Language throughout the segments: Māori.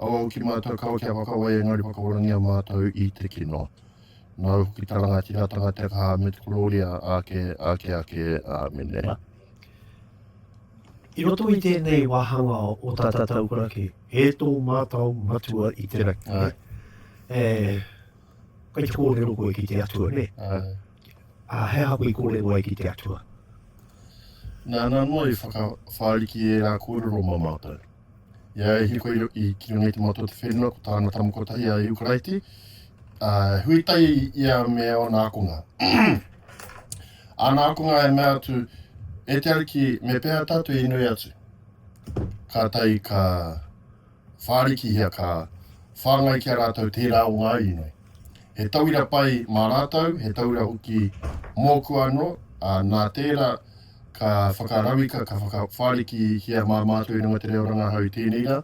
Awau ki matou kaua kia whakawai engari whakaorangia matou i te kino. Nau hoki ta rangatiratanga te kaha me te kororia ake ake ake. Amene. I roto i tenei wahanga o ta tatau karaki, he to matou matua i te rangi. Ai. E, kai te korero koe ki te atua, ne? Ai. A he aha koe korero ai ki te atua? Na, na noa i whakawhariki e ra korero ma matou. I a ia i hiko i Kiriona i te Matua o te Whenua ko tāna tama kotahi a Iukaraiti, ā, he huitai ia me ōna ākonga. āna ākonga e mea atu, E te Ariki, me pēhea tātou i nui atu? Kātahi ka whārikihia, ka whāngai ki a rātou tērā o ngā inoi. He tauira pai mā rātou, he tauira hoki mōku anō, ā, nā tērā, ka whakarauika, ka whakawhāriki ki a māmā atu e runga te reo rangahau i tēnei rā,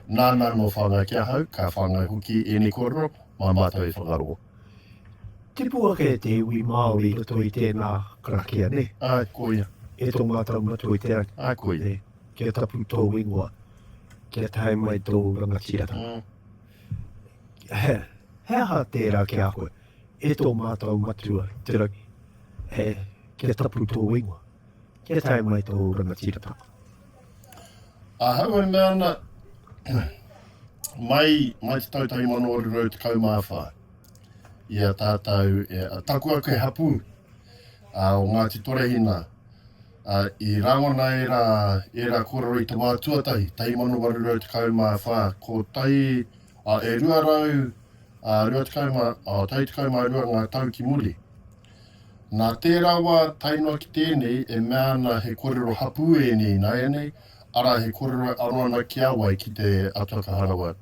nāna anō whāngai ki ahau, ka whāngai hoki ēnei kōrero mā mātou e whakarongo. Tipu ake te iwi Māori i roto i tēnā karakia, nē? Āe, koia. E tō mātou matua i te rangi. Āe, koia. Kia tapu tōu ingoa, kia tae mai tōu rangatiratanga. He aha tērā ki a koe? E tō mātou matua te rangi, e, kia tapu tō ingoa, kia tae mai tō rangatiratanga. Ahau e mea ana, mai, mai te tau 1814, i a tātou, e, a taku ake he hapū, a, o Ngāti Torehina, a, i rangona ērā, ērā kōrero i te wā tuatahi, 1814, ko tai, E rua rau, rua tekau mā, tau tekau mā rua ngā tau ki muri. Nā tērā wā tae noa ki tēnei e mea ana he kōrero hapū ēnei ināianei, arā he kōrero e aro ana ki a wai ki te Atua Ka Harawa,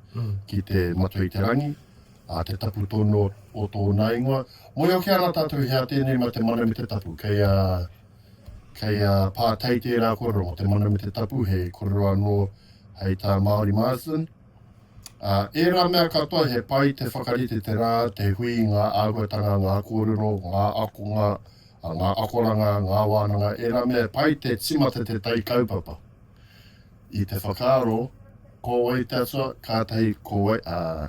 ki te Matua i te Rangi, te tapu tonu o tōna ingoa. Moe hoki ana tātou he a tēnei mā te mana me te tapu. Kei a, kei a Pātai tērā kōrero mō te mana me te tapu, he kōrero anō hei tā Māori Marsden. Ā, ērā mea katoa he pai te whakarite te rā, te hui, ngā āhuatanga, ngā kōrero, ngā akonga, ngā akoranga, ngā wānanga, ērā mea e pai te timata te tai kaupapa. I te whakaaro, ko wai te atua, kātahi ko wai, ā,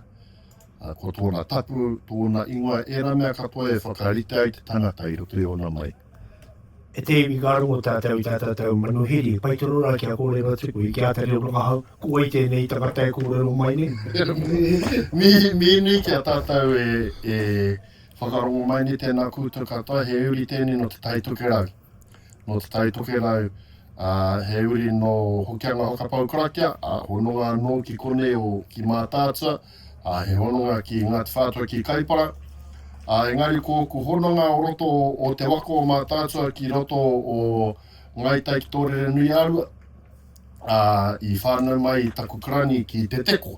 ā, ko tōna tapu, tōna ingoa, ērā mea katoa e whakarite ai te tangata i roto i ōna mai. E te iwi ka rongo tātou i tā tātou manuhiri, pai tonu rā kia kōrero atu koe, ki a Tari Rongahau, ko wai tēnei tangata e kōrero mai nei? Mihi, mihi nui ki a tātou e, e whakarongo mai nei tēnā koutou katoa, he uri tēnei nō Te Tai Tokerau, nō Te Tai Tokerau, ā, he uri nō Hokianga Whakapau Karakia, ā, hononga anō ki konei o, ki Mātaatua, Ā, he hononga ki Ngāti Whātua ki Kaipara, ā, engari ko ōku hononga o roto o Te Waka o Mātaatua ki roto o Ngāi Tai ki Tōrerenui-ā-Rua, ā, i whānau mai taku karani ki Te Teko.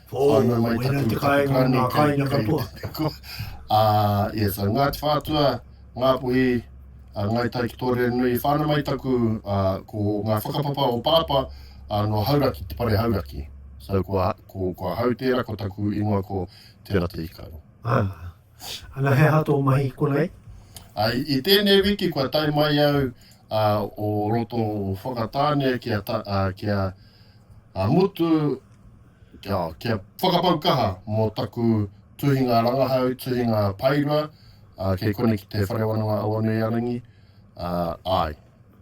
Ō, Whānau mai wēnei taku, te taku kāinga o karani ngā kei, kāinga kei katoa. Te Teko. Ā, ia, so Ngāti Whātua, Ngāpuhi, ā, Ngāi Tai ki Tōrerenui, whānau mai taku, ā, ko ngā whakapapa o Pāpā, ā, nō Hauraki, te pare Hauraki. So kua, Ko, ko ahau tērā, ko taku ingoa ko Te Rateikaro. Ah. Ana he aha tō mahi konei? Ah, i, i tēnei wiki kua tae mai au ah, o roto o Whakatāne ki a, ta, ah, ki a, a mutu kia, kia whakapau kaha mō taku tuhinga rangahau, tuhinga paerua, uh, kei kone ki te Whare Wānanga Awanuiarangi, uh, ai,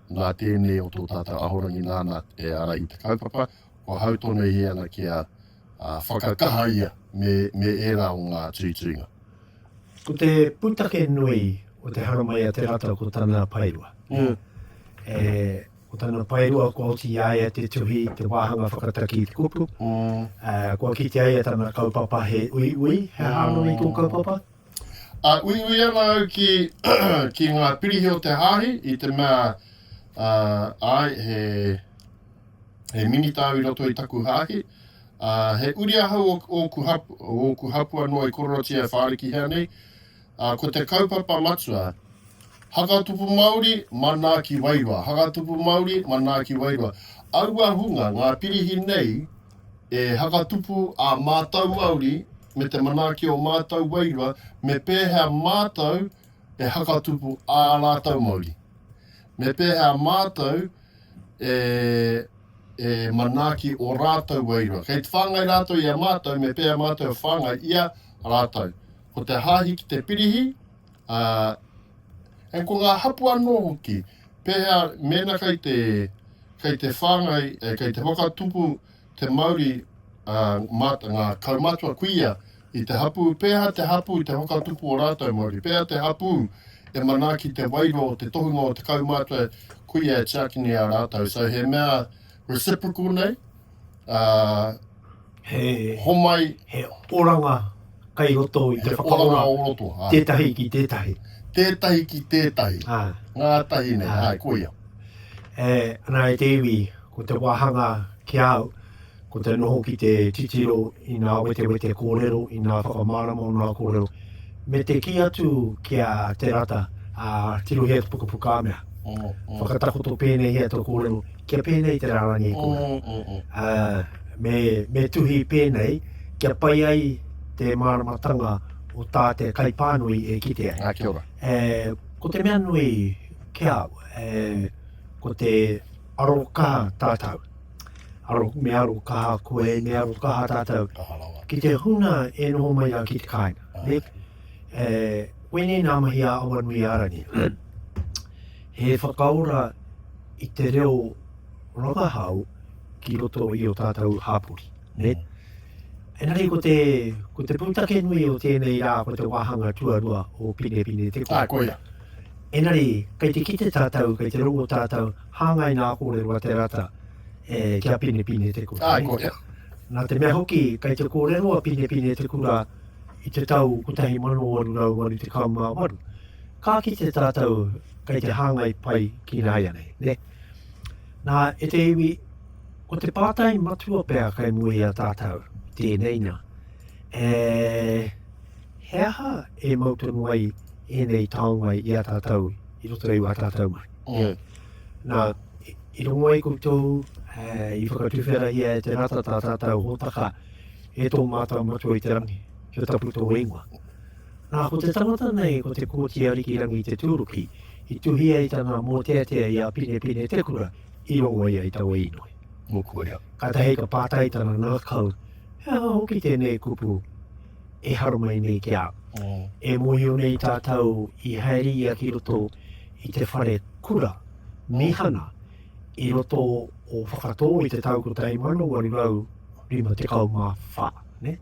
nā tēnei o tō tātou ahorangi nāna e ara i te kaupapa, Kua hau tonu ia ana kia whakakaha ia me ērā o ngā tuituinga. Ko te pūtake nui o te haramai a Te Rata ko tana paerua. Ko tana paerua kua oti i a ia te tuhi, te wāhanga whakataki i te kupu. Kua kitea ia tana kaupapa he uiui, he aha anō i tō kaupapa? A uiui ana au ki ngā pirihi o te Hāhi i te mea, āe, he. He minita au i roto i taku hāhi, ā, he uri ahau o ōku hapū, o ōku hapū anō i kororotia e whārikihia nei, ā, ko te kaupapa matua, Hakatupu Māori, manaaki wairua, Hakatupu Māori, manaaki wairua. Aua hunga, ngā pirihi nei, e hakatupu ā mātou Māori me te manaaki o mātou wairua, me pēhea mātou e hakatupu ā rātou Māori. Me pēhea mātou e manaaki o rātou wairua. Kei te whāngai rātou i a mātou me pēa mātou e whāngai ia rātou. Ko te hāhi ki te pirihi, ā, and ko ngā hapū anō hoki, pēhea mēnā kei te, kei te whāngai, e, kei te whakatupu, te mauri a ngā kaumatua kuia i te hapū, pēhea te hapū te whakatupu o rātou mauri, pēhea te hapū e manaaki te wairua o te tohunga o te kaumatua kuia e tiaki nei ā rātou. So he mea reciprocal nei, he homai, he oranga. Kei roto i te whakaora. He oranga o roto, āe. Tētahi ki tētahi. Tētahi ki tētahi. Āe. Ngātahi nei, āe, koia. E, nā, e te iwi, ko te wāhanga ki a au, ko te noho ki te titiro i ngā wetewete kōrero, i ngā whakamārama o ngā kōrero, me te kī atu ki a Te Rata, ā, tirohia te pukapuka mea. Whakatakoto pēnēhia tō kōrero, kia pēnei te rārangi e kua, ā, me, me tuhi pēnei kia pai ai te māramatanga o tā te kaipānui e kite ai. Ā, kia ora. E, ko te mea nui ki au, e, ko te arokaha tātou. Aro, me arokaha koe, me arokaha tātou. Ki te huna e noho mai au ki te kāinga. Ah. E, koinei nā mahi a Awanuiārangi. He whakaora i te reo rangahau ki roto i o tātou hāpori. Ne? Engari ko te, ko te pūtake nui o tēnei rā, ko te wāhanga tuarua o Pinepine te kōrero. Ah, koia. Engari, kei te kite tātou, kei te rongo tātou, hāngai nā kōrero a Te Rata e, ki a Pinepine te kura. Ah, koia. Nā te mea hoki, kei te kōrero a Pinepine te kura, i te tau 1848, ka kite tātou kei te hāngai pai ki nāianei, ne? Nā, e te iwi, ko te pātai matua pea kai mua i a tātou, tēnei nā, e, he aha e mau tonu ai ēnei taonga i a tātou, i roto i a tātou mai? Yeah. Mm. Nā, i rongo ai koutou, e, i whakatuwherahia e te rata tā tātou hōtaka, e tō mātou matua i te rangi, kia tapu tō ingoa. Nā, ko te tangata nei, ko te Kōti Ariki Rangi Te Tūruki, i tuhia i tana mōteatea i a Pinepine Te Kura, i rongo ia i taua inoi. Mokuia. Kātahi ka pātai tana ngākau, he aha hoki tēnei kupu e haramai nei ki a au? Mm. E mōhio nei tātou i haere ia ki roto i te whare kura, mihana, i roto o Whakatō i te tau 1800, Rima tekau mā whā, nē?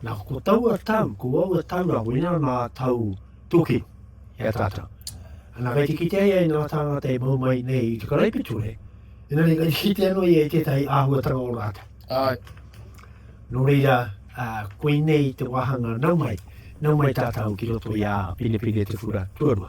Nā, ko taua tau, ko aua tau rā, ko inā nā tau tōkino i a tātou. Nā, kei te kitea ia i nā tāngata e mau mai nei i te karaipiture, inā nei kei te kitea no ia i tētahi āhuatanga o rātou. Ai. Nō reira, uh, koinei te wāhanga nau mai, nau mai tātou ki roto i a Pinepine Te Whura Tuarua.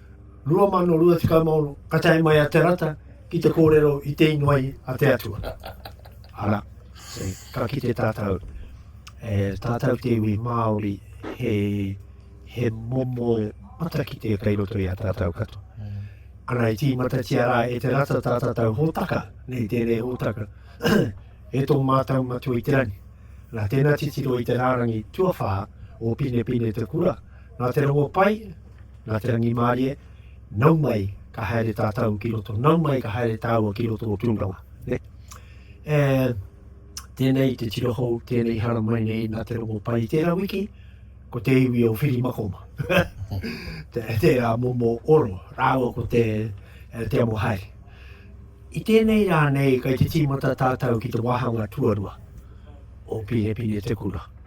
2023, ka tae mai a Te Rata ki te kōrero i te ingoa i a te Atua. Arā, ka kite tātou, e tātou te iwi Māori, he, he momo matakite kei roto i a tātou katoa. Ana i tīmatatia rā e te rata tā tātou hōtaka, nei tēnei hōtaka, e tō mātou matua i te rangi. Nā tēnā titiro i te rārangi tuawhā o Pinepine te kura, Nā Te Rongopai, nā Te Rangimārie, nau mai ka haere tātou ki roto, nau mai ka haere tāua ki roto o Tūranga. Ne? E, tēnei te tira hou, tēnei hara mai nei nā Te Rongopai. Tērā wiki, ko te iwi o Whirimakoma. te, te a Momo Oro, rāua ko te, eh, te amo haere. I tēnei rā nei, kai te tīmata tātou ki te wāhanga tuarua o Pīnepine Te Kura.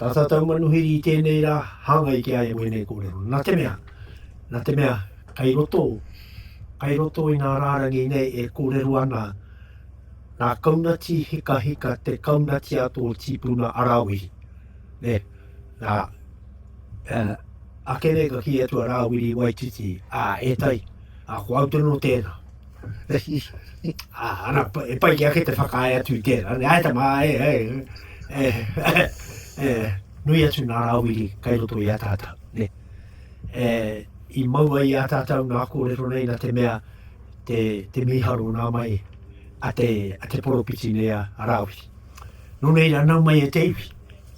Tata taumanuhiri i tēnei rā, hāngai ki a ia wēnei kōrero. Nā te mea, nā te mea, kei roto, kei roto i ngā rārangi nei e kōrero ana nā Kaunati Hikahika te Kaunati a tō tīpuna a Rāwiri. Ne, nā, uh, ake nei ka kī atu a Rāwiri Waititi, ā, e tai, ā, ko au tonu o tēnā. Ana, e pai ki ake te whakaae atu i tērā. Nei aita mā, e, e, e, e, e, nui atu nā rāwiri kai roto i a tātou. Ne. E, I maua i a tātou nā kōrero nei na te mea te, te miharo nā mai a te, a te poropiti nei a, a rāwiri. Nō nei rā nau mai e te iwi,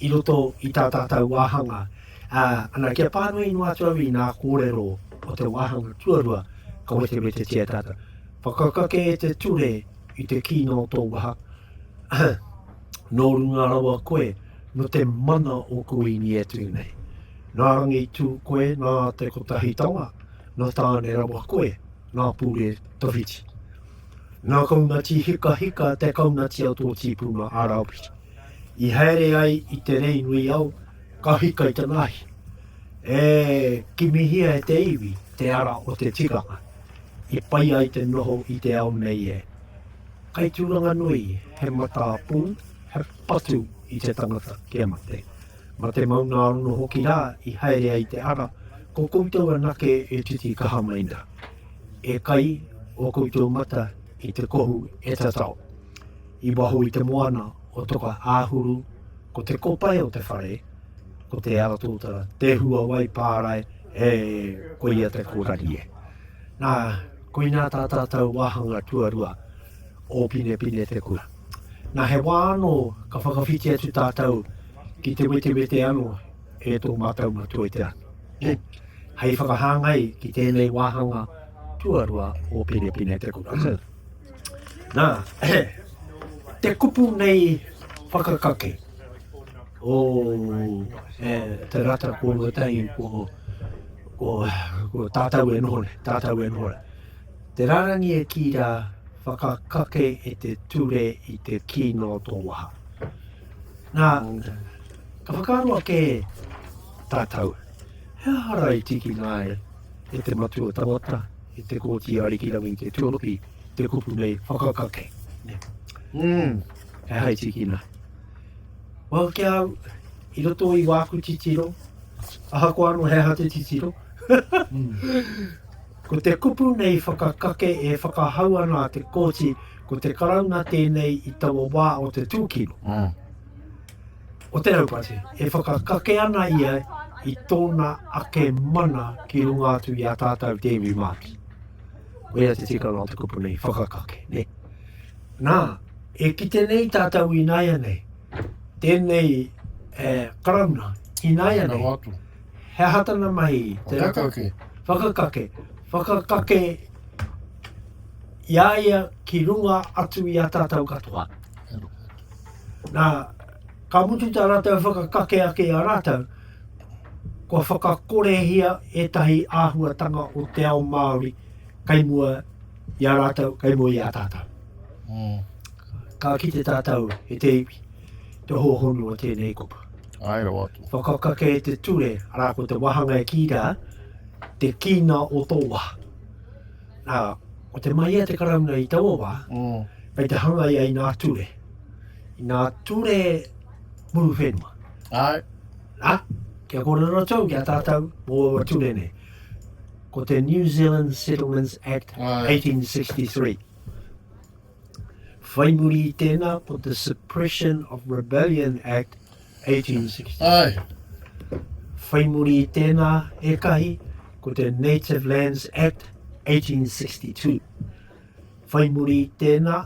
i roto i tā tātou wāhanga, ā, ana, kia pānui noa atu au i ngā kōrero o te wāhanga tuarua ka wetewetetia e tātou. Whakakake e te ture i te kī nō tō waha, nō runga rawa koe, nō te mana o Kuini e tū nei. Nā Rangitū koe, nā Te Kotahitanga, nō Tāne rawa koe, nā Pure tawhiti. Nā Kaunati hikahika te kaunati a tō tīpuna a Raupiti. I haere ai i te rei nui au, ka hika i te ngahi. E kimihia e te iwi te ara o te tikanga, i pai ai te noho i te ao nei e. Kai tūranga nui, he matā pū, he patu i te tangata kia mate. Ma te maunga anō hoki rā i haere ai te ara, ko koutou anake e titi kaha mai nā. E kai o koutou mata i te kohu e tatao. I waho i te moana o Toka-a-huru, ko te kopae o te whare, ko te ara tōtara, te hua wai pārae, e, koia te kōrari e. Nā, koinā tā tātou wāhanga tuarua o Pinepine te kura. Nā, he wā anō ka whakawhiti atu tātou ki te wetewete anō e tō mātou matua i te rā. E, hei whakahāngai ki tēnei wāhanga tuarua o Pinepine te kura. Nā, he, te kupu nei whakakake o e, te rata ko Ruatahi, ko, ko, ko tātou e noho nei, tātou e noho nei. Te rārangi e kī rā, whakakake e te ture i te kino o tō waha. Nā, ka whakaaro ake tātou, he aha rā i tiki nāe e te matua tangata, I te Kōti Arikirangi te tuaropi te kupu nei whakakake. Mm. He hai tikina. Well, ki au, i roto i wāku titiro, aha ko ano he aha te titiro, ko te kupu nei whakakake e whakahau ana a te kōti, ko te karauna tēnei i taua wā o te tūkino. Mm. o te raupatu, e whakakake ana ia i tōna ake mana ki runga atu i a tātou te iwi Māori. Koia te tikanga o te kupu nei, whakakake, ne? Nā, e kite nei tātou i nāia nei, tēnei e, karauna, i nāia nei. Watu. He aha tana mahi? Te whakakake. Whakakake. Whakakake i aia ki runga atu i a tātou katoa. Nā, ka mutu tā rātou whakakake ake i a rātou, kua whakakorehia ētahi āhuatanga o te ao Māori kei mua i a rātou, kei mua i a tātou. Mm. Ka kite tātou e te iwi, te hōhonu o tēnei kupu. Ai rawa atu. Whakakake e te ture, arā ko te wahanga e kī rā, te kīnga o tō waha. Nā, ko te mahia te Karauna i taua wā, kei te hanga ia i ngā ture, i ngā ture muru whenua. Ai. Nā, kia kōrero tau ki a tātou mō aua ture nei. Ko te New Zealand Settlements Act Ai. 1863. Whai muri i tēnā ko te Suppression of Rebellion Act 1860. Whai muri i tēnā ētahi ko te Native Lands Act 1862. Whai muri i tēnā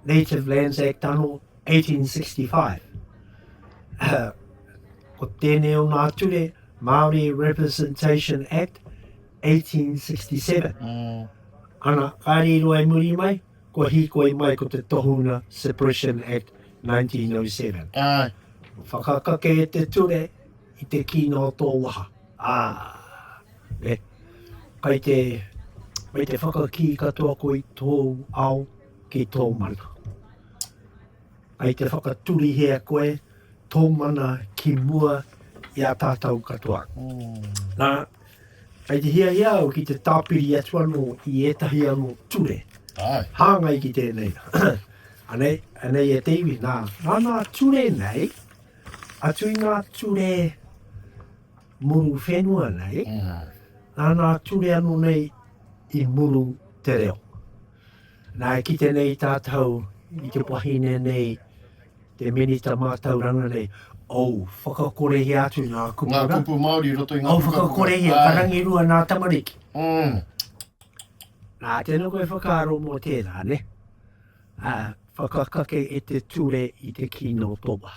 Native Lands Act anō 1865. Ko tēnei o ngā ture Māori Representation Act 1867. Ana, kāre i roa i muri mai, kua hīkoi mai ko te Tohunga Suppression Act 1907. Whakakake e te ture i te kino o tō waha. Āe. Kai te, kai te whakakī katoa koe i tōu ao ki tō mana. Kai te whakaturihia koe tō mana ki mua i a tātou katoa. Nā, Kei te hiahia au ki te tāpiri atu anō i ētahi anō ture hāngai ki tēnei. Anei, anei e te iwi, nā, nā nā ture nei, atu i nā ture muru whenua nei, mm. nā nā ture anō nei i muru te reo. Nā, e kite nei tātou i te wahine nei, te Minita Mātauranga nei, ou, whakakorehia atu ngā kupu Ngā kupu Māori i roto i ngā pukapuka. Ou whakakorehia, ka rangirua ngā tamariki. Nā, tēnā koe whakaaro mō tērā, nē. Whakakake e te ture i te kino toa.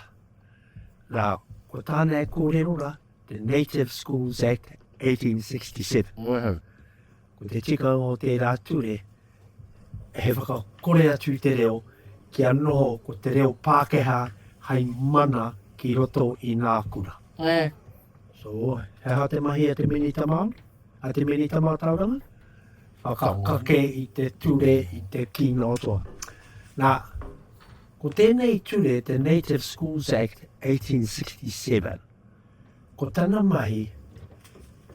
Nā, ko tāna e kōrero rā, The Native Schools Act 1867. Wēhau. Ko te tikanga o tērā ture, he whakakore atu i te reo kia noho ko te reo Pākehā hai mana ki roto i ngā kura. Ē. So, he aha te mahi a te Minita Māori, a te Minita Mātauranga? Whakakake i te ture, i te kino toa. Nā, ko tēnei ture, te Native Schools Act 1867, Ko tana mahi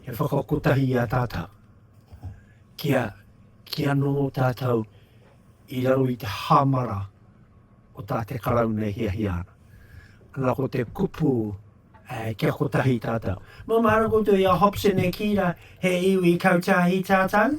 he whakakotahi i a tātou, kia, kia noho tātou i raro i te hāmara o tā te Karauna e hiahia ana. Ana ko te kupu, eh, kia kotahi tātou. Nō māra koutou i a Hobson e kī rā, he iwi kautiahi tātou?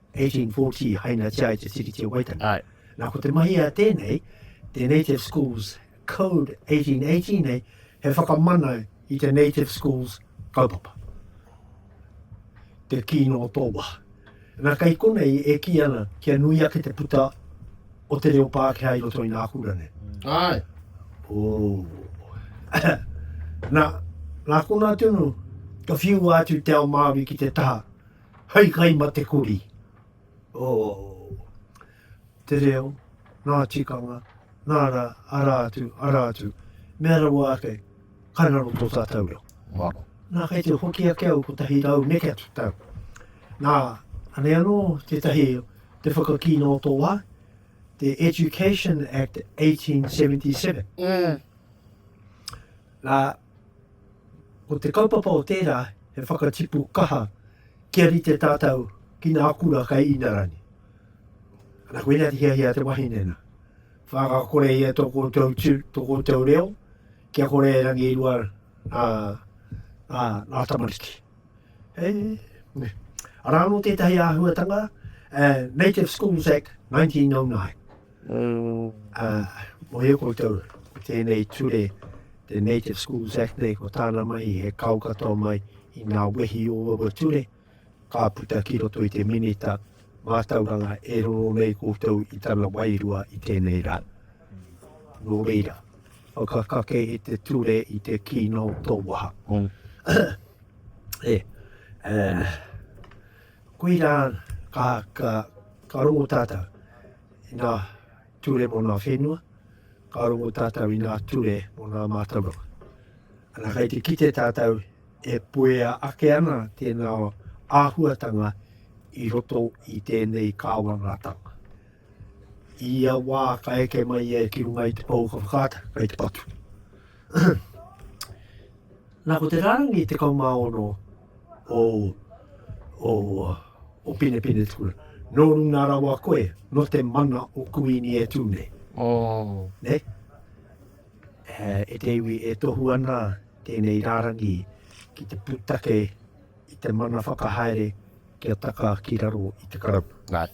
1840 i hainatia ai te Tiriti o Waitangi. Ai. Nā, ko te mahi a tēnei, te Native Schools Code 1818 nei, he whakamana i te Native Schools kaupapa. Te kino o tō waha. Nā, kei konei e kī ana kia nui ake te puta o te reo Pākehā i roto i nā kura nei. Ai. Oh. nā, nā konā tonu, ka whiua atu te ao Māori ki te taha Hei kai ma te kori oh Te reo, nga tikanga, nga ra, ara atu, ara atu Mea rawa ake, kai raro to tatou reo Waro Na kai te hoki ake au ko tahi rau neke atu tau Na, ane ano te tahi te whakakina o to wa The Education Act 1877 Na, Ko te kaupapa o tērā he whakatipu kaha kia rite tātou ki ngā kura kei Inarani. Ana koina te hiahia a te wahine nā. Whakakore ia tō koutou tū, tō koutou reo, kia kore e rangi rua ngā, ngā, ngā tamariki. He, ne. Arā anō tētahi āhuatanga, uh, Native Schools Act 1909. Ā, mōhio koutou, ko tēnei ture, te Native Schools Act nei, ko tāna mahi he kao katoa mai i ngā wehi o aua ture, ka puta ki roto i te Minita mātauranga e roro nei koutou i tana wairua i tēnei rā. Nō reira, whakakake i te ture i te kino tō waha. Ē, ā, Koirā ka rongo tātou i ngā ture mō ngā whenua, ka rongo tātou i ngā ture mō ngā mātauranga. Ana, kei te kite tātou e puea ake ana tēnā āhuatanga i roto i tēnei kāwanatanga. I ia wā ka eke mai ia ki runga i te pou o ka whakaata, kei te patu. Nā, ko te rārangi 16 o Pinepinetua, nō runga rawa koe, nō te mana o Kuini e tū nei. Nei? E te iwi e tohu ana tēnei rārangi ki te pūtake i te mana whakahaere kia taka ki raro i te Karauna. Nei.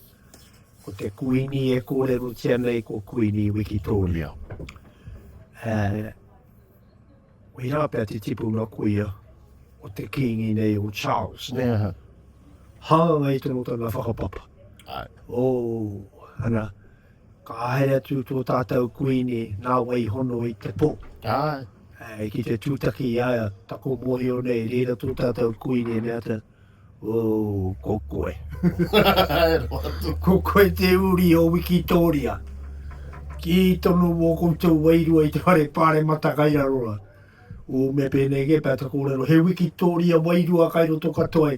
Ko te Kuini e kōrerotia nei ko Kuini Wikitōria. Nei. Koirā pea te tipuna koia o te Kīngi nei o Charles, nē? Aha. Hāngai tonu tana whakapapa. Ai. O, ana, ka haere atu tō tātou Kuini nā wai hono i te pō. Ai. Ai, ki te tūtaki i a ia, taku mōhio nei, reira tō tātou Kuini e mea te, Ooh, ko koe. ko koe te uri o Wikitoria. Ki tonu o koutou wairua i te whare pāremata kai raro ra. O me pēnei kē pēta kōrero, he Wikitoria wairua kai roto katoa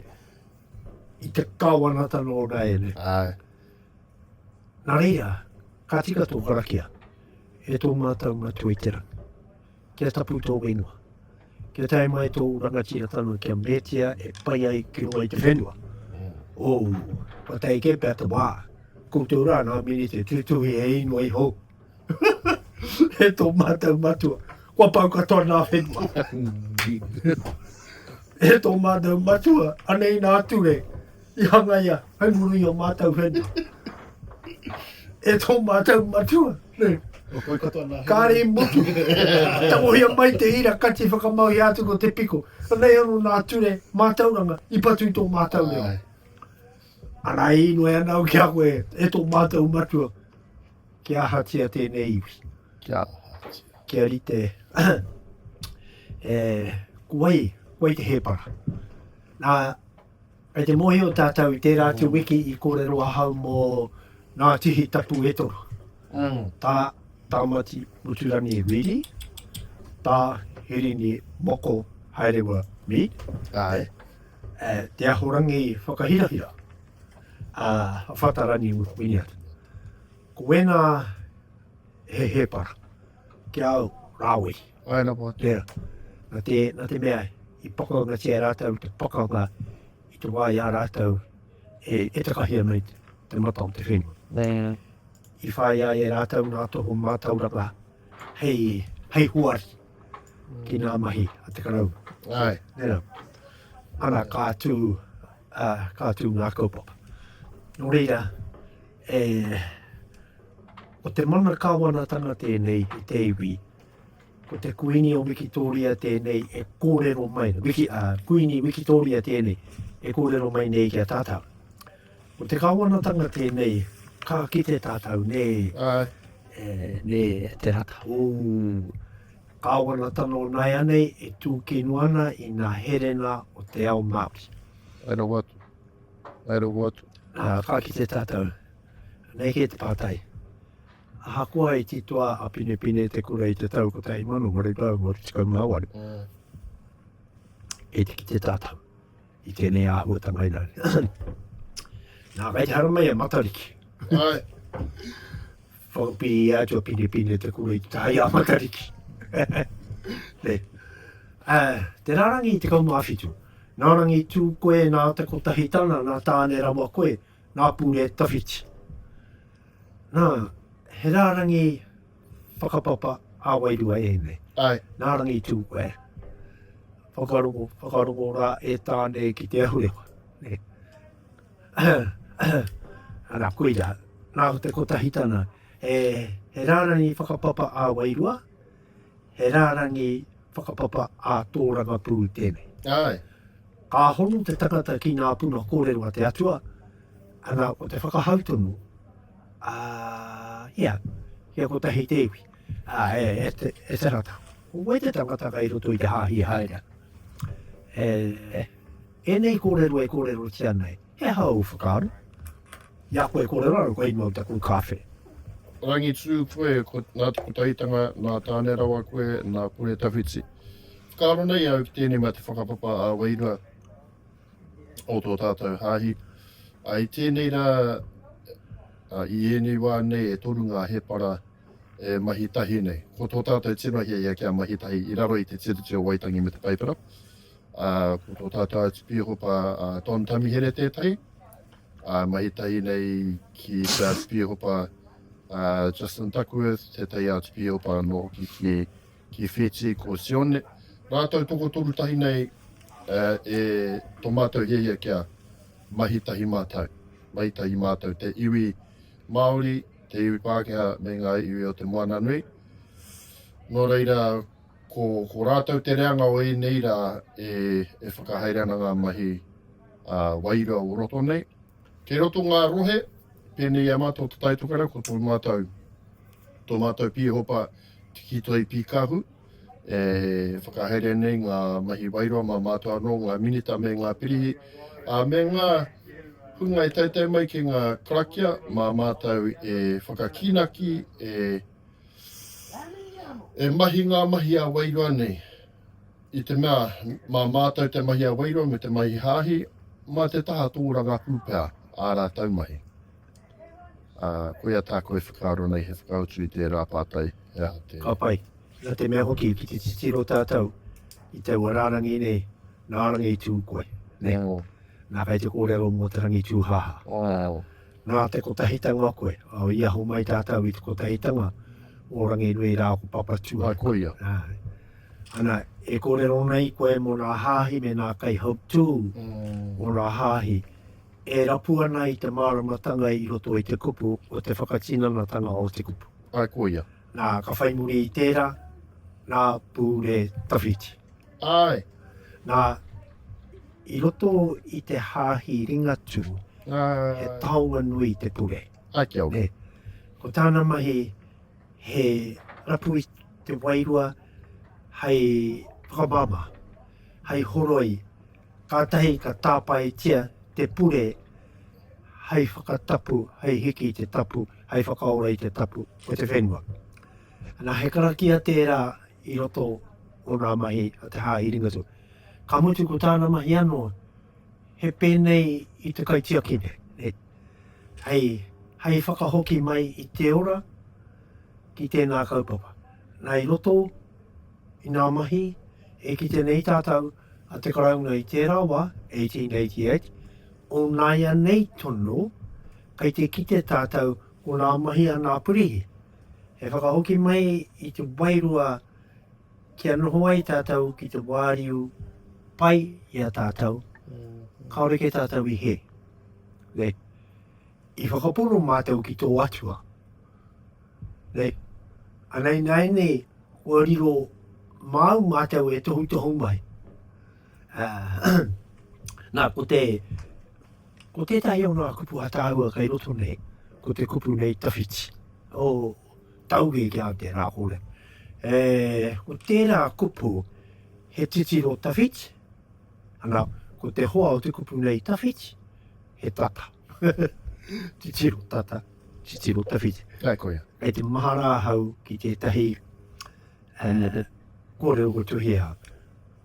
i te kāwanatanga o Naene. Ai. Nā reira, ka tika tō karakia e tō mātou matua i te rangi. Kia tapu tō whenua. Kia tae mai tōu rangatiratanga kia meatia e pai ai ki roa i te whenua. Ou, kua tae kē pea te wā. Koutou rā ngā minite tūtuhi he inoi hou. e tō mātou matua, kua pau katoa ngā whenua. e tō mātou matua, anei nā Ture, I hangaia hai muri i o mātau whenua e tō mātau matua. Kāre i mutu. Tangohia mai te ira kati whakamauhia atu ko te piko. Ranei ano nā ture mātauranga i patu i tō mātau reo. Ara e inoe ana au ki a koe e tō mātau matua. Kia ahatia tēnei iwi. Kia ahatia. Kia rite. e, kuai, kuai te hēpara. Nā, Kei te mōhio tātou i tērā atu wiki i kōrero ahau mō ngā tihi tapu e toru, tā Tāmati Muturangi Reedy, tā Hirini Moko Haerewa Mead, Te Ahorangi Whakahirahira, ā, Whatarani Winiata. Ko ēnā he hēpara. Ki a au, rāwei. Ae na wā tera. Na te, na te mea, i pakaungatia rātou te pakanga i te wā i a rātou e, e takahia mai te, te mata o te whenua. Nē. I whāi ai e rātou ngā toho mātauranga hei, hei huari ki nā mahi a te karau. Ai. Nera. Ana, ka tū, uh, ka tū ngā kaupapa. Nō reira, E. Ko te mana Kāwanatanga tēnei i te iwi. Ko te Kuini o Wikitōria tēnei e kōrero mai, wiki, a, Kuini Wikitōria tēnei e kōrero mai nei ki a tātau. Ko te Kāwanatanga tēnei, ka kite tātau, nē. Ae. E, nē, te rata. Ū. Kāwanatanga o nāianei e tūkino ana i nā herena o te ao Māori. Ae rawa atu. Whai rongo atu. Ā, ka kite tātou, nei kē te pātai, ahakoa i titoa a Pinepine te kura i te tau 1888, kei te kite tātou i tēnei āhuatanga ina. Nā, kei te haramai a Matariki. Āe. Whakapi i a Atua Pinepine te kura i te taha i a Matariki. Nē. Ā, te rārangi i tekau mā whitu. Nā Rangi tū koe, nā Te Kotahitana, nā Tāne rawa koe, nā Pure tawhiti. Nā, he rārangi whakapapa ā-wairua ēnei. Āe. Nā Rangi tū koe. Whakarongo, whakarongo rā e Tāne ki te ahurewa. Nē. Ana, koira, nā te kotahitanga, he, he rārangi whakapapa ā-wairua, he rārangi whakapapa ā-tōrangapū tēnei. Aye. Ka hono te tangata ki ngā puna kōrero a te Atua, ana, o te whakahau tonu, ā, ia, kia kotahi te iwi, ā, e, e, te, e te rata. Ko wai te tangata kai roto i te hāhi haere? E, e, Ēnei kōrero e kōrerotia nei, he aha ōu whakaaro? I a koe kōrero anō, kua ingoa ki a koe kāwhe. Rangitū koe, nā te kotahitanga, nā Tāne rawa koe, nā Kore tawhiti. Whakaaro nei au ki tēnei mea te whakapapa ā-wairua o tō tātou hāhi. I tēnei rā, i ēnei wā nei e toru ngā hēpara e mahi tahi nei. Ko tō tātou tino hiahia kia mahi tahi i raro i te Tiriti o Waitangi me te Paipera. Ā, ko tō tātou atu pīhopa a Don Tamihere tētahi, ā, mahi tahi nei ki te atu pīhopa a Justin Duckworth, tētahi atu pīhopa anō hoki ki, ki Fiji, ko Sione. Rātou tokotoru tahi nei e, e tō mātou hiahia kia mahi tahi mātou, mahi tahi mātou te iwi Māori, te iwi Pākehā me ngā iwi o te moana nui. Nō reira, ko, ko rātou te reanga o ēnei rā e, e whakahaere ana ngā mahi a wairua o roto nei. Kei roto ngā rohe, pēnei i a mātou te Taitokerau, ko tō mātou, tō mātou pīhopa, Tiki Toi Pīkahu, e whakahaere nei ngā mahi wairua mā mātou anō, ngā Minita me ngā Pirihi, ā, me ngā hunga e taetae mai ki ngā karakia, mā mātou e whakakīnaki, e, e mahi ngā mahi ā-wairua nei. I te mea, mā mātou te mahi ā-wairua me te mahi hāhi, mā te taha tōrangapū pea ā rātou mahi. Ā, koia tāku e whakaaro nei, he whakautu i tērā pātai, he aha te. Ka pai. Nā te mea hoki, ki te titiro tātou i taua rārangi nei, nā Rangitū koe, nē? Nō. Nā, kei te kōrero mō te Rangitūhāhā. Ō. Nā te kotahitanga koe, ā, i aho mai tātou i te kotahitanga o Ranginui rā ko Papatūānuku. Ā, koia. Āe. Ana, e kōrero nei koe mō nā hāhi me nā kaihautū o nā hāhi, e rapu ana i te māramatanga i roto i te kupu o te whakatinanatanga o te kupu. Āe, ko ia. Nā, ka whai muri i tērā, nā Pūre Tawhiti. Āe. Nā, i roto i te hāhi Ringatū, he taonga nui te pure. Āe, kia ora. Ko tāna mahi, he rapu i te wairua hei whakamāmā, hei horoi. Kātahi ka tāpaetia te pure hei whakatapu, hei hiki i te tapu, hei whakaora i te tapu o te whenua. Nā, he karakia tērā i roto o ngā mahi a te Hāhi Ringatū. Ka mutu ko tāna mahi anō, he pēnei i te kaitiakine, nē, hei, hei whakahoki mai i te ora ki tēnā kaupapa. Nā, i roto. I ngā mahi e kite nei tātou a te Karauna i tērā wā, 1888, onāianei tono kei te kite tātou ko ngā mahi a ngā purihi. He whakahoki mai i te wairua kia noho ai tātou ki te wāriu pai i a tātou, kāore kē tātou i hē. Nei, i whakapono mātou ki tō Atua. Nei. Ana ināianei kua riro māu mātou e tohutohu mai. Nā, ko te, ko tētahi o ngā kupu ataahua kei roto nei, ko te kupu nei tawhiti. O, tauge ki a te rā kore. E, ko tērā kupu, he titiro tawhiti, ana, ko te hoa o te kupu nei tawhiti, he tata. titiro tata. Titiro tawhiti. Kai koia. Kei te mahara ahau ki tētahi uh, kōrero ko Tuhia.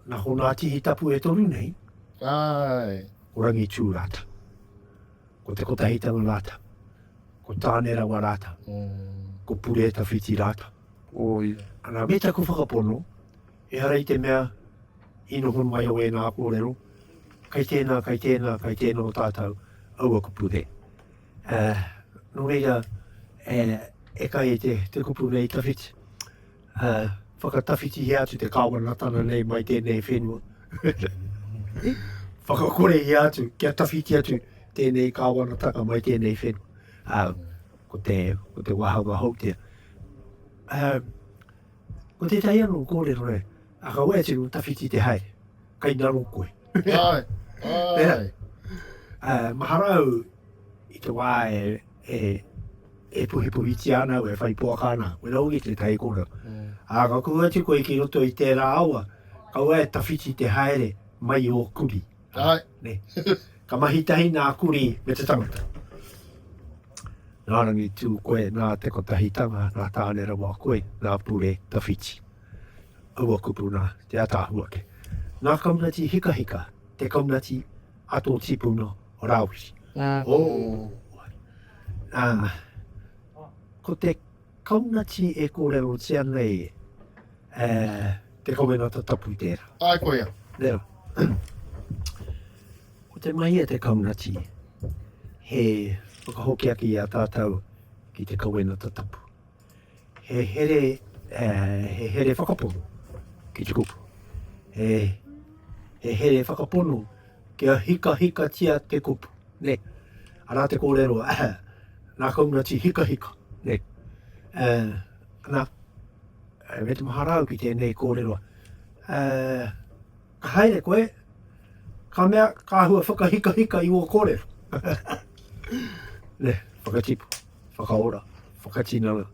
Nā hōnā tihi tapu e toru nei. Ai. Ko rangi tū rāta. Ko te kotahitanga rāta. Ko tāne rawa rāta. Mm. Ko pure tawhiti rāta. Oi. Ana me taku whakapono, e hara i te mea i noho mai o ēnā kōrero, kai tēnā, kai tēnā, kai tēnā o tātou, aua kupu he. Ā, nō reira, e kai e te kupu nei tawhiti, ā, whakatawhitihia atu te Kāwanatanga nei mai tēnei whenua. Whakakorehia atu, kia tawhiti atu tēnei Kāwanatanga mai tēnei whenua. Ā, ko te, ko te wāhanga hou tia. Ā, ko tētahi anō kōrero e, a ka wai atu tawhiti te haere. Kai ngaro koe. Ai, ai. Uh, mahara au i te wā e, e, e puhipuhitia ana au, e whai poaka ana, koe rau ki te tai kora. Mm. A ka kua atu koe ki roto i tērā awa, kaua e tawhiti te haere mai o kuri. Ai. Ne. Ka mahi tahi nā kuri me te tangata. Nā rangi tū koe, nā te kotahitanga, nā tāne rawa koe, nā pure tawhiti. Aua kupu nā te ataahua ake. Ngā kaunati hikahika, te kaunati a tō tipuna o Rāwhiti. Ō! Ko te kaunati e kōrerotia nei e te kawenata tapu tērā. Āe koia. Nē rā. Ko te mahi a te kaunati he whakahokiaki i a tātou ki te kawenata tapu. He here, he here whakapono ki te kupu. He, he here whakapono kia hikahikatia te kupu. Ne. Arā te kōrero, nā Kaunati hikahika. Ne. Nā, me te maharau ki tēnei kōrero, Ka haere koe, ka mea ka āhua whakahikahika i wō kōrero. Nē, whakatipu, whakaora, whakatinana,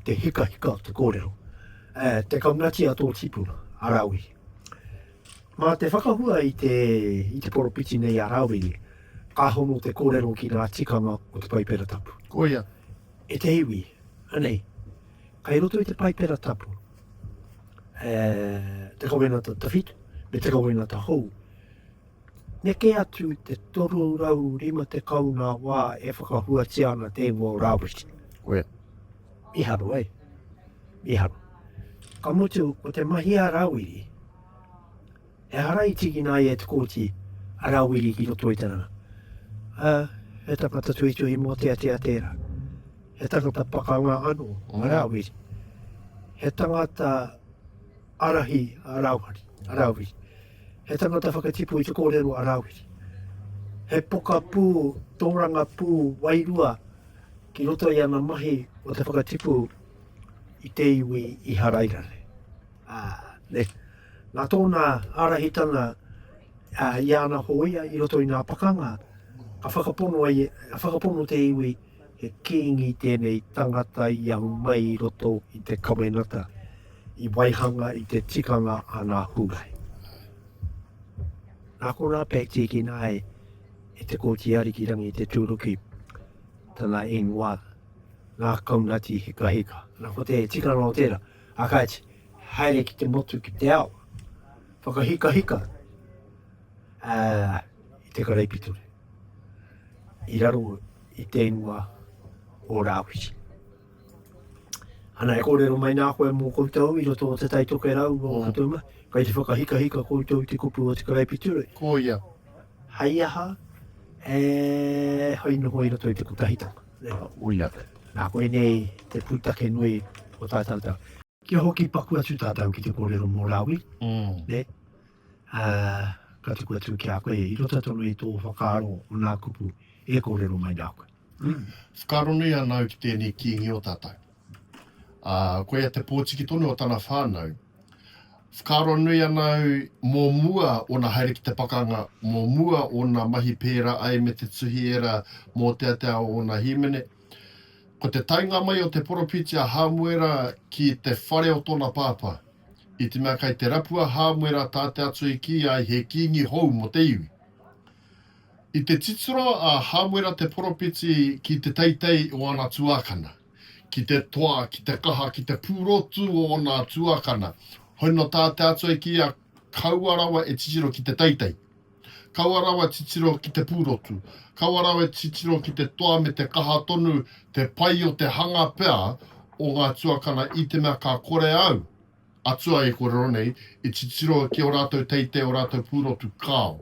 te hikahika o te kōrero. Te kaunati a tō tipuna, a Rāwiri. Mā te whakahua i te, i te poropiti nei a Rāwiri, ka hono te kōrero ki ngā tikanga o te Paipera Tapu. Koia. E te iwi, anei. Kai roto i te Paipera Tapu, e, te kawenata tawhit, me te kawenata hou. Neke atu te 350 ngā wā e whakahuatia ana tēngo rāwhiti. Koe. Miharo, ai. Miharo. Ka mutu, ko te mahi a Rāwiri, Ehara i tīkina ai e Te Kooti a Rawiri ki roto i te ranga, ā, he tangata tuhituhi mōteatea tērā. He tangata pakanga anō a Rawiri. He tangata ārahi a Rawiri. He tangata whakatipu i te kōrero a Rawiri. He pokapū, tōrangapū wairua ki roto i ana mahi o te whakatipu i te iwi Iharaira nei. ā, nē. Nā tōna ārahitanga i ana hōia i roto i ngā pakanga, ka whakapono, ka whakapono te iwi he kīngi tēnei tangata i ahu mai i roto i te kawenata, i waihanga i te tikanga a ngā Hūrai. Nā konā pea i tīkina ai e te kōti arikirangi te tūruki, tana ingoa, nā Kaunati Hikahika. Nā ko te tikanga o tērā, A kāti, haere ki te motu ki te ao, whakahikahika ā, i te karaipiture, i raro i te ingoa o Rāwhiti. Ana e kōrero mai nā koe mō koutou i roto o te taitoke rau o mm. Katouma, kai te whakahikahika koutou i te kupu o te karaipiture. Ko ia. Hai aha, e hai noho i roto i te kotahitanga. Reo. Uia. Nā koinei te pūtake nui o tā tātou. Kia hoki paku atu tātou ki te kōrero mō Rāwi, nē, ā, ka tuku atu ki a koe i roto tonu i tō whakaaro o nā kupu e kōrero mai nā koe. Whakaaronui ana au ki tēnei kīngi o tātou. Ā, ko ia te pōtiki tonu o tana whānau. Whakaaro nui ana au mō mua ōna haere ki te pakanga, mō mua ōna mahi pērā ai me te tuhi ērā mōteatea o ōna hīmene. Ko te taenga mai o te poropiti a Hāmuera ki te whare o tōna pāpā, i te mea kai te rapu a Hāmuera tā te Atua i kī ai he kīngi hou mō te iwi. I te titiro a Hāmuera te poropiti ki te teitei o ana tuākana. ki te toa, ki te kaha, ki te pūrotu o ōna tuakana. Hoi nō tā te Atua i kīia, Kaua rawa e titiro ki te teitei. Kaua rawa titiro ki te pūrotu. Kaua rawa e titiro ki te toa me te kaha tonu, te pai o te hanga pea o ngā tuakana i te mea ka kore au Atua e korero nei, e titiro ki o ratou teitei o ratou purotu kao.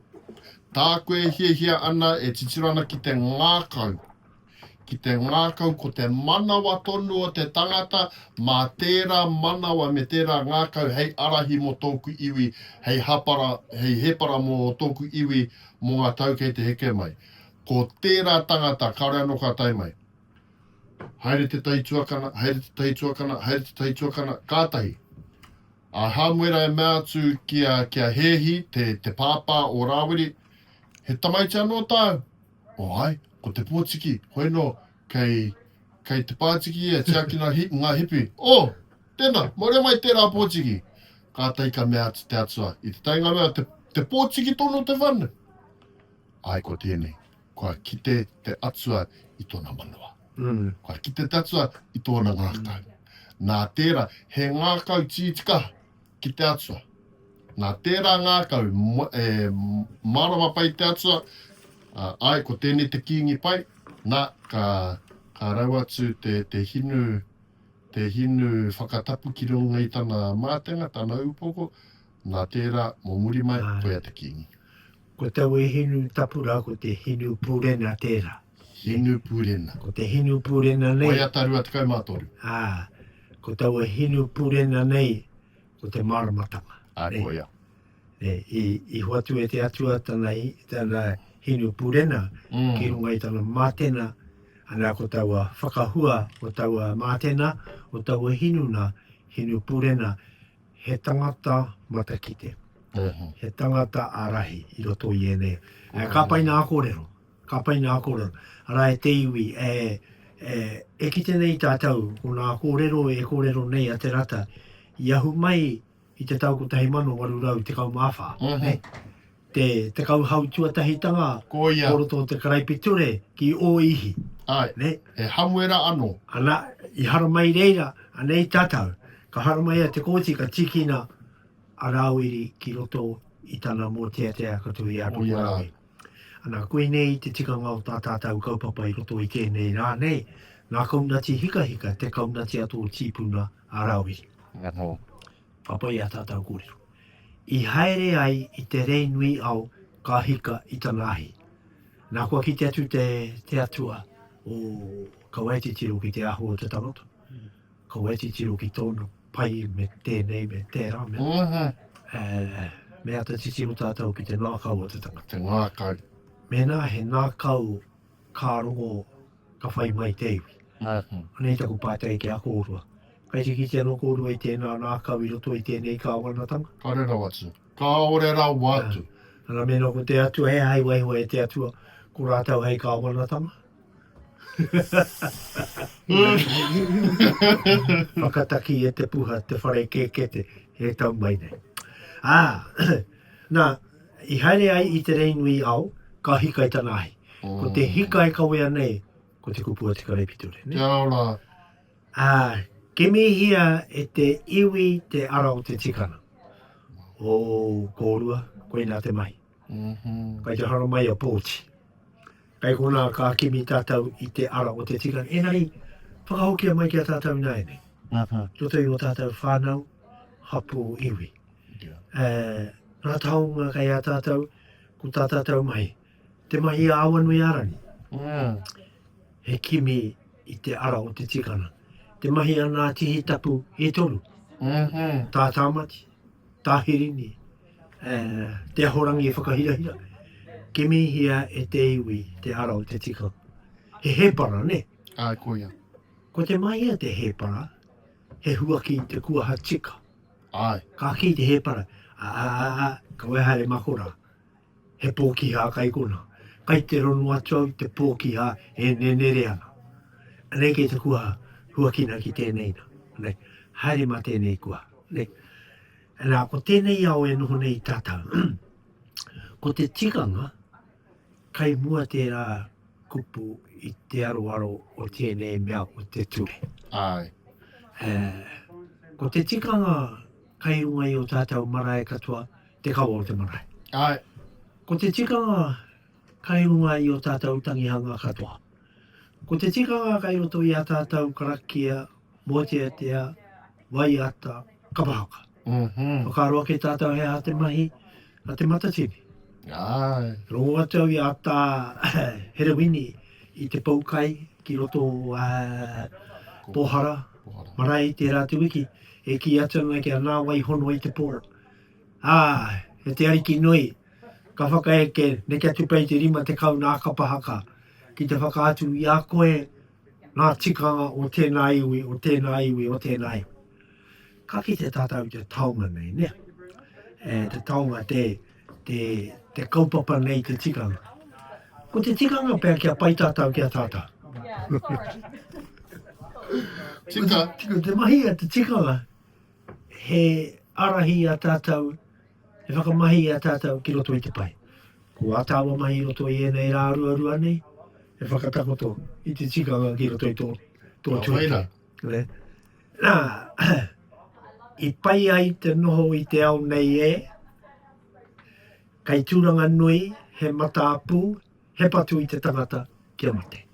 Ta koe e hiahia ana e titiro ana ki te ngakau, ki te ngakau ko te manawa tonu o te tangata ma tera manawa me tera ngakau hei arahi mo toku iwi hei hapara hei hepara mo toku iwi mo nga tau kei te heke mai. Ko tera tangata kare ano ka tae mai. Haere te tahi tuakana, haere te tahi tuakana, haere te tahi tuakana, kātahi. A Hāmuera e mea atu ki a, ki a Hēhi, te, te pāpā o Rāwiri, he tamaiti anō tāu? O oh, ai, ko te pōtiki, hoi nō, kei, kei te pātiki ia, tiakina hi, ngā hipi. O, oh, tēnā, mōre mai tērā pōtiki. Kātahi ka mea atu te atua, i te tainga mea, te, te pōtiki tonu te whanu. Ai, ko tēnei. Kua kite te Atua i tōna manawa. Kua kite te Atua i tōna ngākau. Nā tērā, he ngākau tītika ki te Atua. Nā tērā ngākau, e mārama pai te Atua, ā, āe, ko tēnei te kīngi pai, nā, ka, ka rau atu te, te hinu, te hinu whakatapu ki runga i tana mātenga, tana upoko, Nā tērā, mō muri mai, koia te kīngi. Ko tau e hinu tapu rā, ko te hinu pūrena tērā. Hinu pūrena. Ko te hinu pūrena nei. Koia tā rua tekau mā toru. Ā, ko taua hinu pūrena nei, ko te māramatanga. Ā, koia. E, i, i hoatu e te atua tana, tana hinu pūrena mm. ki runga i tana mātena, ana ko taua whakahua o taua mātena, o taua hinu na, hinu pūrena, He tangata matakite, he tangata ārahi i roto i ēnei. Kāpā i nā kōrero, kāpā i nā kōrero. Arā, e te iwi, e kite nei tātou ko nā kōrero e kōrero nei a Te Rata i ahu mai i te tau 1814, Te tekau hau tuatahitanga o roto o te karaipiture ki ō ihi. Āe, he hamuera anō. Ana, i haramai reira, anei tātou. Ka haramai a Te Kooti, ka tīkina a Rāwiri ki roto i tana mōteatea ka tuhi a Tokorāwe. Ana, koinei te tikanga o tā tātou kaupapa i roto i tēnei rā nei, ngā kaunati hikahika, te kaunati a tō tīpuna a Rāwiri. Oho. Papa i a tatou korero. I haere ai i te rei nui ao ka hika i tana ahi. Na kua kite atu te te atua o ka wai titiro ki te ahu o te tangata. Ka wai titiro ki tona pai me tenei me tera me. Aha. E me ata titiro tatou ki te ngakau o te tangata. Te ngakau. Mena he ngakau ka rongo, ka whai mai te iwi. Anei taku pātai ki a kōrua. Kai te kite anō kōrua i tēnā ngākau i roto i tēnei kāwanatanga? Kāore rawa atu. Kāore rawa atu. Ana mēnā ko te Atua, he aha i waiho e te Atua ko rātou hei kāwanatanga? Whakataki e te puha te whare kēkete e tau mai nei. Ā, nā, I haere ai i te rei nui ao, ka hika i tana ahi. Ko te hika e kawea nei, ko te kupu a te karaipiture. Te ao la. A, kimihia e te iwi te ara o te tikana. Oh, korua, koina te mahi. Kai te hara mai a Pooti. Kei konā ka kimi tātou i te ara o te tika, engari whakahokia mai ki a tātou ināianei, tō toi o tātou whānau, hapū, iwi. Ngā taonga kei a tātou, ko tā tātou mahi, te mahi a Awanuiārangi, he kimi i te ara o te tikanga. Te mahi a Ngāti Hitapu e toru, tā Tāmati, Tahirini, te ahorangi e whakahirahira, kimihia e te iwi te ara o te tikanga. He hēpara, nē? Āe, koia. Ko te mahia te hēpara, he huaki i te kuaha tika. Āe. Ka kī te hēpara, Ā, ā, ā, ā, ka wehe haere mako rā. He pōkihā kai konā. Kai te rongo atu au te pōkihā e nenere ana. Anei kei te kuaha, huakina ki tēnei na. Anei, haere mā tēnei kuaha. Anei, anā, ko tēnei ao e noho nei tātau. Ko te tikanga, kai mua tērā kupu i te aroaro o tēnei mea o te ture. Āe. Ē, ko te tikanga kai runga i o tātau marae katoa, te kawa o te marae. Ae. Ko te tikanga kai runga i o tatou tangihanga katoa. Ko te tikanga kai roto i a tatou karakia, moteatea, waiata, kapahaka. Whakaaro ake tatou he aha te mahi a Te Matatini. Ae. Rongo atu au i a Ta Herewini i te pou kai ki roto o Pohara marae i tera atu wiki, e ki atu ana ki a Nawaihono i te po. Ā, e te Ariki nui, ka whakaeke, neke atu pea i te rima tekau nā kapa haka, ki te whakaatu i a koe ngā tikanga o tēnā iwi, o tēnā iwi, o tēnā iwi. Ka kite tātou i te taonga nei, nē? E, te taonga, te, te, te kaupapa nei te tikanga. Ko te tikanga pea kia pai tātou ki a tātou. Tika. Ko te mahi a te tikanga. He ārahi i a tātou, he whakamahi i a tātou ki roto i te pae. Ko ā tāua mahi i roto i ēnei rā ruarua nei, he whakatakoto i te tikanga ki roto i tō tuakiri. Nā, i pai ai te noho i te ao nei e, kei tūranga nui, he mataapu, He patu i te tangata kia mate.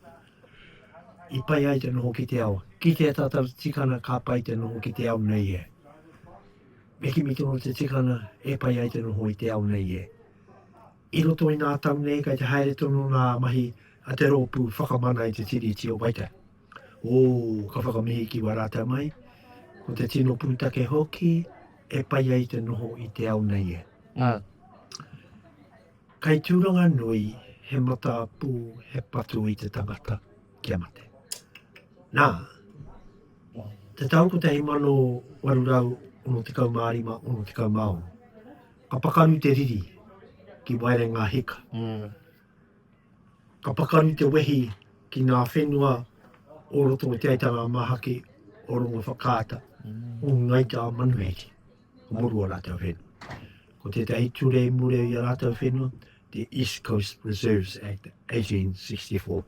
I pai ai te noho ki te ao. Ki te tatau tikana ka pai te noho ki te ao nei e. Me kimi tonu te tikana e pai ai te noho i te ao nei e. I roto i ngā tau nei kai te haere tonu ngā mahi a te rōpū whakamana i te Tiriti o Waitangi. Ōu, ka whakamihi ki wā rātau mai, ko te tino pūtake hoki e pai ai te noho i te ao nei e. Ā. Kei Tūranga Nui he mataapu, he patu i te tangata kia mate. Nā, o te tau 1865, 66, ka pakaru te riri ki Waerenga Hika. Ka pakaru te wehi ki ngā whenua o roto o Te Aitanga-a-Māhaki, o Rongowhakaata, o Ngāi Tā Manuhiri. Ka muru ō rātou whenua. Ko tētahi ture i mureu i ā rātou whenua, te East Coast Reserves Act 1864.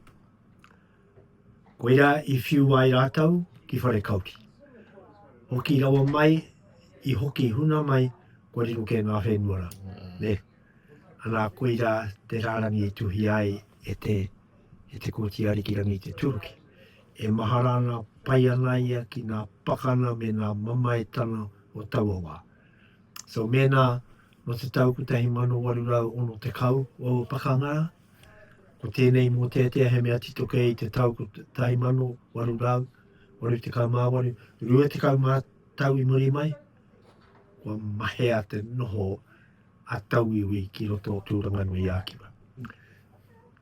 Koirā i whiu ai rātou ki whare kauri. Hoki rawa mai, i hoki huna mai, kua riro kē ngā whenua rā. Ne? Anā, koirā te rārangi e tuhia ai e te, e Te Kooti Ariki Rangi i te Turuki. E mahara ana, pai ana ia ki ngā pakana me ngā mamaetanga o taua wā. So mēnā nō te tau 1860 ōu pakanga rā, ko tēnei mōteatea he mea tito kē i te tau 1888, 20 ngā tau i muri mai, kua mahea te noho a Tauiwi ki roto o Tūranganui-ā-Kiwa.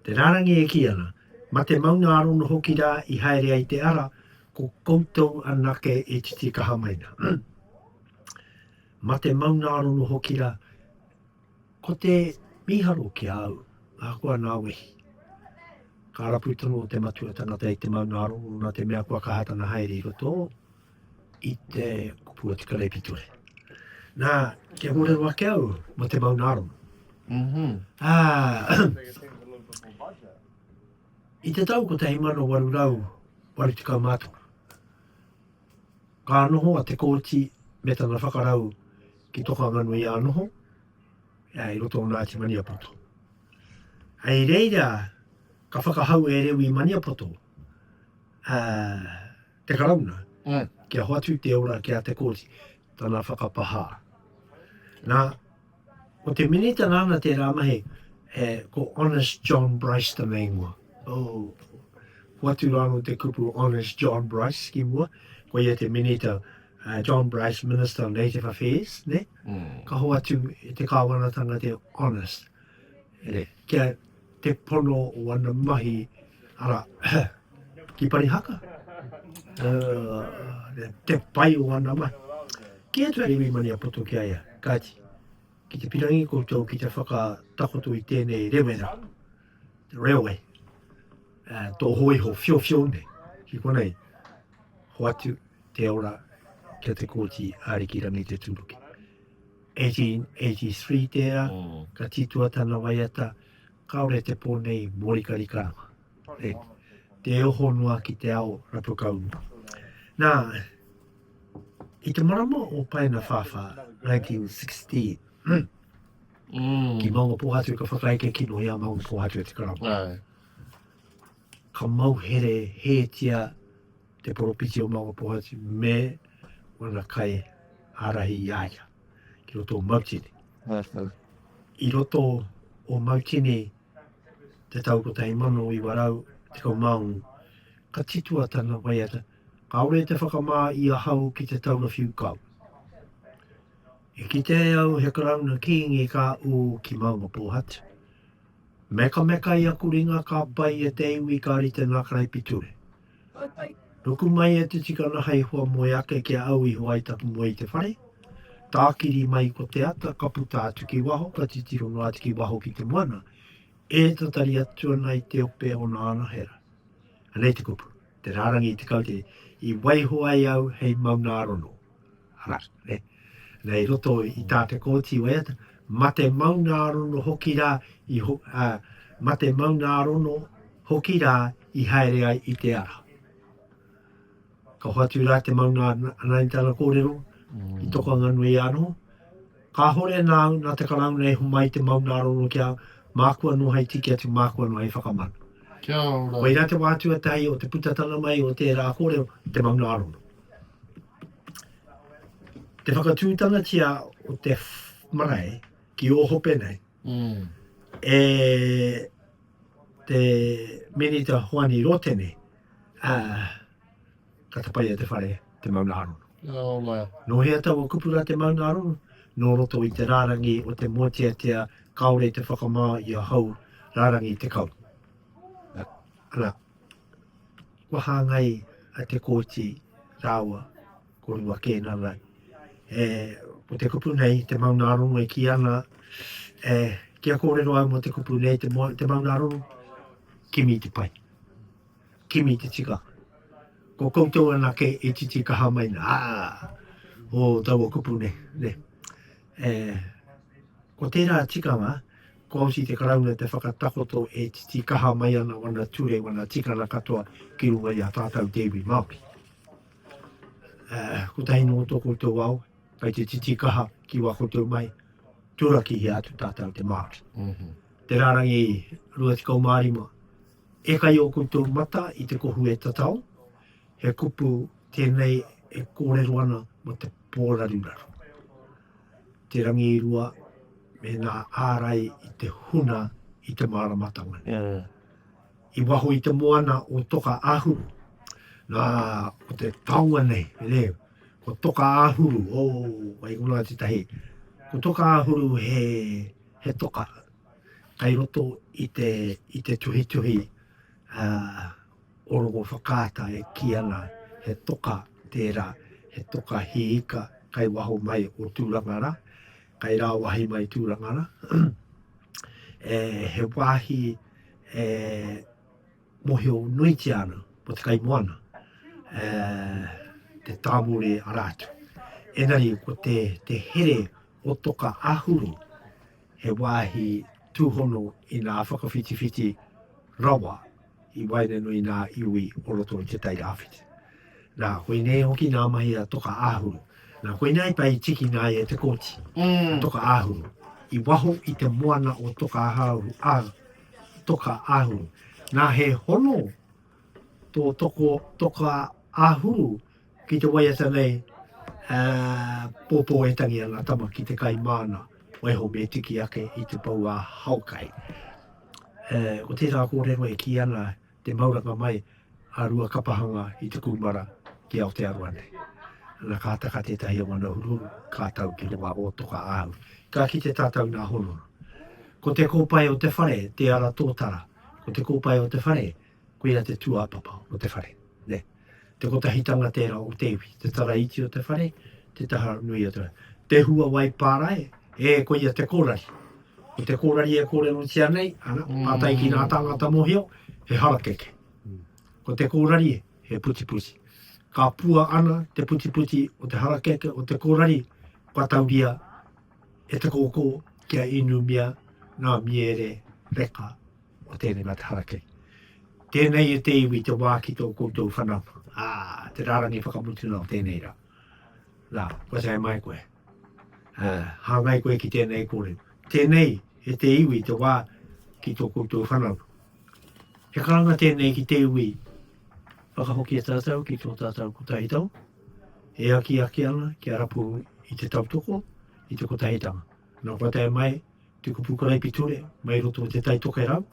Te rārangi e kī ana, ma te maunga arono hoki rā i haere ai te ara, ko koutou anake e titikaha mai na. Ma te maunga arono hoki rā, ko te miharo ki a au, ahakoa nā wehi. Ka rapu tonu o te matua tangata i te maunga arono na te mea kua kaha tana haere i roto o. i te kupu o te kareipitore. Nā, kia kōrero ake au mō te maunarongo. Mm -hmm. ah, I te tau 1880, ka noho a te kōti me tana whakarau ki Tokanganui a noho, ea i roto o Ngāti Maniapoto. Hei reira, ka whakahau e Rewi Maniapoto, uh, te Karauna kia hoatu te ora ki a Te Kooti, tana whakapahā. Nā, ko te Minita nāna tērā mahi, e, ko Honest John Bryce tana ingoa. Oh, hoatu rāno te kupu Honest John Bryce ki mua, ko ia te Minita, uh, John Bryce, Minister of Native Affairs, ne? Mm. Ka hoatu te kāwanatanga te Honest. Ne. Kia, te pono o ana mahi, ara, ki Parihaka, uh, te pai o ana mahi. Ki atu ari wimani a poto ki aia, kati, ki te pirangi koutou ki te whakatakoto i tēnei rewera, the railway, uh, tō hoiho fio fio nei, ki konei, hoatu, te ora ki a Te Kooti Ariki Rangitetūruki. 1883 tērā, ka titua tana waiata, kāore te pō nei mōrika rikarama, e te oho noa ki te ao rapu kau noa. Nā, i te marama o Paena Whāwhā, 1916, mm. ki Maunga Pōhatu ka whakaeke kino i a Maunga Pōhatu e te karama. Ka mauhere hētia Te Poropiti o Maungapohatu me wana kai ārahi i a ia ki roto o Mautini. I roto o Mautini te tau 1916, ka titua tana waiata, Kaore te whakamā i ahau ki te taura whiu kau. I kite au he karauna kīngi ka ū ki Maungapohatu. Mekamekai aku ringa ka pai e te iwi ka rite ngā karaipiture. Ruku mai e te tikana hei hoa moe ake ki a au i hoa ai taku moe i te whare. Tākiri mai ko te ata, ka puta atu ki waho, ka titiro noa atu ki waho ki te moana, e tatari atu ana i te ope o nā anahera. Anei te kupu, te rārangi tekau te i waiho ai au hei maunārono. Arā, nē. Nei i roto i tā te Kōti waiata, mate maungārono hoki rā i, ā, mate maungārono hoki rā i haere ai i te ara. Ka hoatu rā te maunga ana i tana kōrero, i toko anga nui anō. Kāhore nāu, nā te Karauna e homai te maungārono ki a au, māku anō hei tiki atu, māku anō hei whakamana. Kia ora. Koirā te wā tuatahi o te putatana mai o tērā kōrero, te maungārono. te whakatūtanatia o te marae ki o hope nei, mm. e te minita Hoani Rotene, uh, ka tapai e te whare te mauna arono. Oh, wow. No hea taua kupura te mauna arono, no roto i te rārangi o te mōteatea, kaore te whakamā i a hau rārangi te kau. Ana. Kua hāngai a Te Kooti rāua ko Rua Kēnana e, ko te kupu nei, te maunārongo e kī ana e, kia kōrero au mō te kupu nei, te, te maunārongo, kimi te pai, kimi te tika. Ko koutou anake i titi kaha mai nā, ā, o taua kupu nei, nei. E, ko tērā tikanga, Kua oti te Karauna te whakatakoto e titikaha mai ana wana ture, wana tikanga katoa ki runga i a tātau te iwi Māori. Kotahi noa tō koutou ao, kai te titikaha ki wā koutou mai, turakihia atu tātau te Māori. Mhm. Te rārangi 25, e kai ō koutou mata i te kohu e tatau, he kupu tēnei e kōrero ana mō te Pōraruraru, Te Rangiirua me ngā ārai i te huna i te māramatanga nei. I waho i te moana o Toka Ahuru, nā, ko te taonga nei, nē, ko Toka Ahuru, o, wai konā tētahi, ko Toka Ahuru he, he toka kai roto i te, i te tuhituhi, ā, o rogo whakaata e kī ana he toka tērā, he toka hī ika kai waho mai o Tūrangara, kai rāwahi mai Tūrangara, e, he wāhi e mohio nuitia ana mo te kaimoana, e, te tāmuri ara atu. Engari ko te, te here o toka ahuru, he wāhi tūhono i nā whakawhitiwhiti rawa, I waenganui ngā iwi o roto i Te Tai Rāwhiti. Nā, koinei hoki ngā mahi a Toka Āhuru. Nā, koinei ai pai i tikina ai e Te Kooti, a Toka Āhuru. I waho i te moana o Toka Āhuru, a Toka Āhuru. Nā, he hono tō toko Toka Āhuru Ki te waiata nei, ā, pōpō e tangi ana tama ki te kai māna, waiho me tiki ake i te pou ā haokai. E, ko tērā kōrero e kī ana te mauranga mai a Ruakapahanga i te kūmara ki Aotearoa nei. Ana ka taka tētahi o ngana uruuru, ka tau ki runga o Toka Āhu. Ka kite tātou nā Honoru. Ko te kōpae o te whare, te ara tōtara, ko te kōpae o te whare, Koia te tūāpapa o te whare, nē. Te kotahitanga tērā o te iwi, te tara iti o te whare, te taha nui o te whare. Te hua wai pārae, ē, koia te kōrari. Ko te kōrari e kōrerotia nei, ana, pātai ki ngā tāngata mōhio, he harakeke. Ko te kōrari, he putiputi. Ka pua ana te putiputi o te harakeke, o te kōrari, kua tauria e te kōkō kia inumia ngā miere reka. o tēnei mataharakei. Tēnei e te iwi te wā ki tō koutou whanaunga, ā, te rārangi whakamutunga o tēnei rā. Nā, kua tae mai koe. Ā, hāngai koe ki tēnei kōrero. Tēnei e te iwi te wā ki tō koutou whanaunga. He karanga tēnei ki te iwi whakahokia tātou ki tō tātou kotahi tau, e akiaki ana ki a rapu i te tautoko, i te kotahitanga. Nō Patai mai te kupu karaipiture, mai roto o Te Tai Tokerau,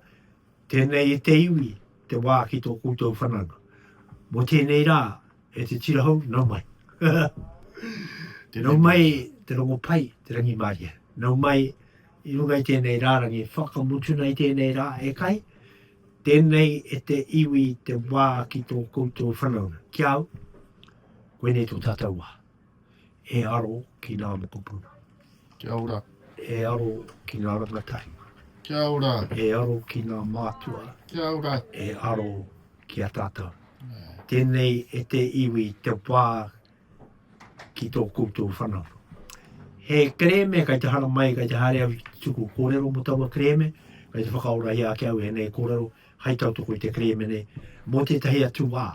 tēnei e te iwi, te wā ki tō koutou whananga. Mō tēnei rā, e te tira hou, nau mai. Nau mai te rongo pai, te rangimārie. Nau mai i runga i tēnei rārangi, whakamutuna i tēnei rā, e kai, tēnei e te iwi, te wā ki tō koutou whananga. Ki au, koinei tō tātou wā. E aro ki ngā mokopuna. Kia ora. E aro ki ngā rangatahi. Kia ora. E aro ki ngā mātua. Kia ora. E aro ki a tātou. Yeah. Tēnei e te iwi te pā ki tō koutou whanau. He kereme kai te hara mai, kai te hare au tuku kōrero mo taua kereme, kai te whakaora i ake au e nei kōrero, hai tau toko i te kereme nei, mō tētahi atu wā.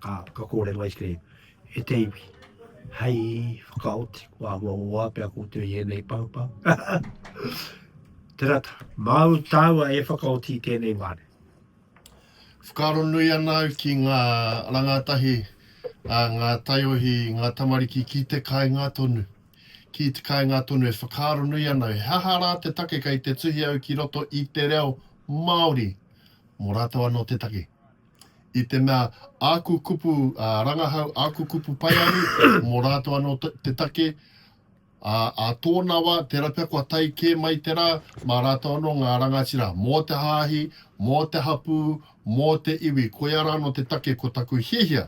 Ā, ka kōrero ai te, e te iwi, hei whakaoti kua āhua o āpea koutou i ēnei pahupau. Tērā tā, māu tāua e whakaoti i tēnei wā nei. Whakaaro nui ana au ki ngā rangātahi a ngā taiohi, ngā tamariki ki te kāinga tonu. Ki te kāinga tonu e whakaaro nui ana au he aha rā te take kei te tuhi au ki roto i te reo Māori mō rātou anō te take. I te mea āku kupu rangahau, āku kupu paearu, mō rātou anō te take, ā, ā tōna wā, tērā pea kua tae kē mai te rā, mā rātou anō ngā rangatira, mō te hāhi, mō te hapū, mō te iwi, koiā rānō te take ko taku hiahia.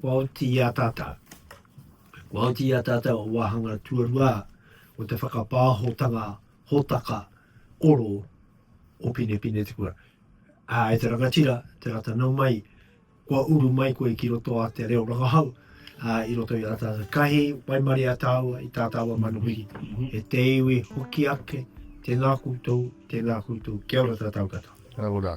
Kua oti i a tātou. Kua oti i a tātou o wāhanga tuarua o te whakapāhotanga hōtaka oro o Pinepine Te Kura. Ā, e te rangatira, te rata nau mai, kua uru mai koe ki roto a te reo rangahau, ā, i roto i ā tātou kahi waimaria taua i tā taua manuhiri, e te iwi hoki ake, tēnā koutou, tēnā koutou, kia ora tātou katoa. Kia ora.